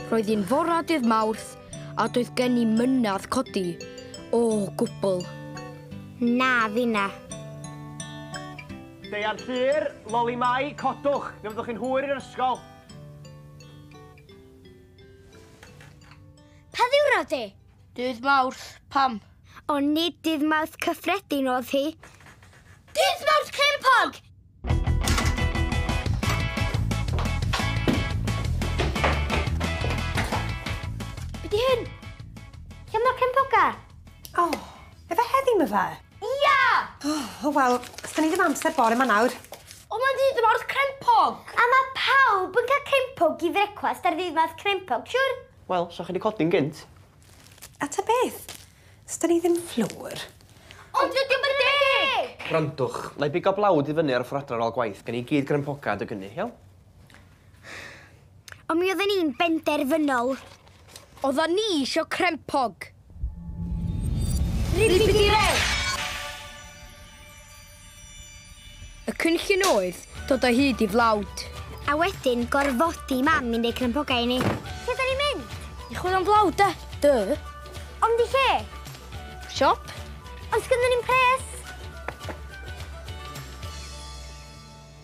Roedd hi'n fora dydd Mawrth a doedd gen i mynadd codi o gwbl. Na, finna. Deian Llŷr, Loli Mai, codwch, fe fyddwch chi'n hwyr i'r ysgol. Pa ddiwrnod 'di? Dydd Mawrth, pam? Ond nid dydd Mawrth cyffredin oedd hi. Dydd Mawrth Crempog! Be di hyn? Lle mae'r crempoga? O, oh, efe heddi my fe? Ia! O, oh, oh, wel, os ni ddim amser bore ma nawr. O, mae'n dydd Mawrth Crempog! A mae pawb yn cael crempog i frecwast ar ddydd Mawrth Crempog, siwr? Wel, sa chi 'di codi'n gynt. A ta beth. Sda ni ddim fflwr. Ond dydi o'm yn deg! Gwrandwch, na i bigo blawd i fyny ar y ffor adra ar ôl gwaith. Gen i gyd grynpoca adeg ynny, iawn? Ond mi odden ni'n benderfynol. Oddan ni isio crempog. Y cynllun oedd dod o hyd i flawd. A wedyn gorfodi mam i'n deud crympogau i ni. Lle da ni'n mynd? I chwilio am flawd, de? Dö. Ond i lle? Siop. Ond sgynddyn ni'n pres.